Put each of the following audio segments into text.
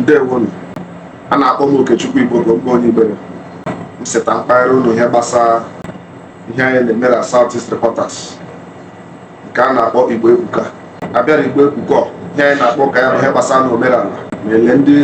ndewonu a na-akpọ m Okechukwu Igboko m bụ onye Igbere m seta mpaghara ụlọ ihe gbasara ihe anyị na-eme na South East Reporters nke a na-akpọ igbo ebuka abịara igbo ebuka ihe anyị na-akpa ụka ya bụ ihe gbasara na omenala na-ele ndị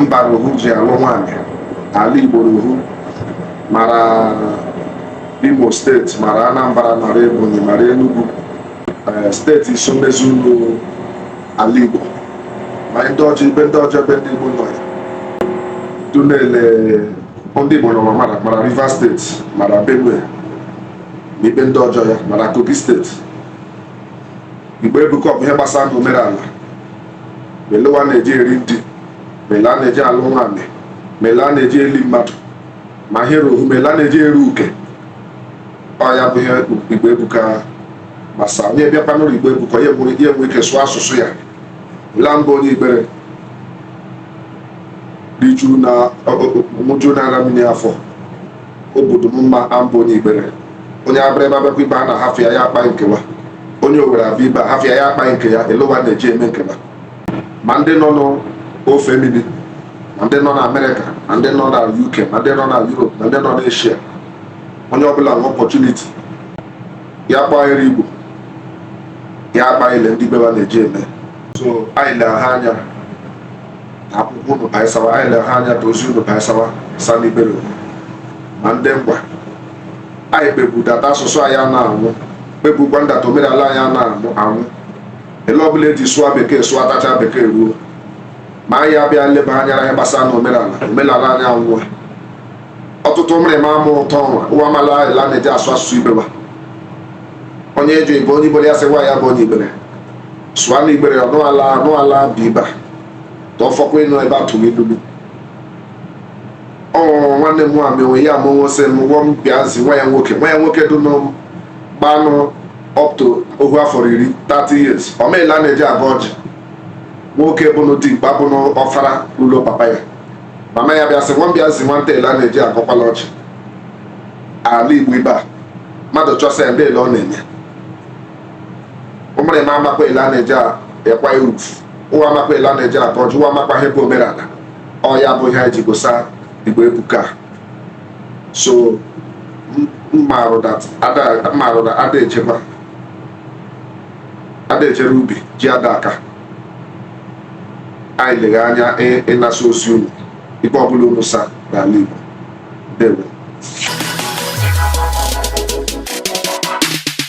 mba n'ohu ji alụ nwaanyị ala igbo n'ohu mara imo steeti mara anambra mara ebonyi mara enugu eh, steeti iso mezuru ala igbo ma ndị ọjọ ibe ndị ọjọ ebe ndị igbo nọ ya dụ nele ndị igbo nọ mara mara rivers steeti mara benue na ibe ndị ọjọ ya mara Kogi steeti igbo ebuka bụ ihe gbasara na omenala ma ele wa na-eji eri ndi ma ele a na-eji alụ nwaanyị ma ele a na-eji eli mmadụ ma ihe rohu ma ele a na-eji eru uke ọ ya bụ ihe igbo ebuka gbasara onye bịakwa n'ụlọ igbo ebuka ya enwe ike sụọ asụsụ ya la m bụ onye igbere riju na ṅụju na ara mmiri afọ obodo m mma a m bụ onye igbere onye abịrịba bịakwa ibe a na-ahafụ ya ya akpa nke wa onye owere abịa ibe a hafụ ya ya akpa nke ya ele wa na-eji eme nke wa ma ndị nọ n'ofe mmiri ma ndị nọ na amerịka ma ndị nọ na uk ma ndị nọ na europe ma ndị nọ na eshia onye ọbụla nwe ọpọchuniti ya kpaghere igbo ya akpa ele ndị ibe wa na-eji eme so anyị lere ha anya na akwụkwọ unu gbasawa anyị lere ha anya ka ozi unu gbasawa sa ndị igbere ma ndị ngwa anyị kpebu data asụsụ anyị a na-anwụ kpebukwa ndata omenala anyị a na-anwụ anwụ ele ọbụla eji sụọ bekee sụọ atacha bekee ruo ma anyị abịa leba anya ihe gbasara na omenala omenala anyị anwụọ ọtụtụ ụmụrịma ama ụtọ nwa ụwa mala ele a na-eji asụ asụsụ ibe wa onye eji ibe onye igbere ya sị nwa ya bụ onye igbere sụa na igbere ọ nụala anụala bụ ibe a na ọfọkwa ịnụ ebe a tụrụ ilulu ọ nwanne m nwa mewe ya amụwo sị m gwọ m bịazi nwa ya nwoke nwa ya nwoke dụ n'ọm gbanụ up to ohu afọ iri 30 years ọ ma ele a na-eji agọ ọjị nwoke bụnụ dimkpa bụnụ ọfara ụlọ papa ya mama ya bịa sị nwa m bịazi nwata ele a na-eji agọkwala ọjị ala igbo ibe a mmadụ chọsa ya ndị ele ọ na-enye ụmụrịma amakwa ele a na-eji ekwa irufu ụwa amakwa ele a na-eji agọ ọjị ụwa amakwa ihe bụ omenala ọ ya bụ ihe anyị ji gosa igbo ebuka so mmarụ na ada echekwa ada echere ubi ji ada aka anyị legha anya ịnasa ozi unu ibe ọbụla unu sa n'ala igbo ndewo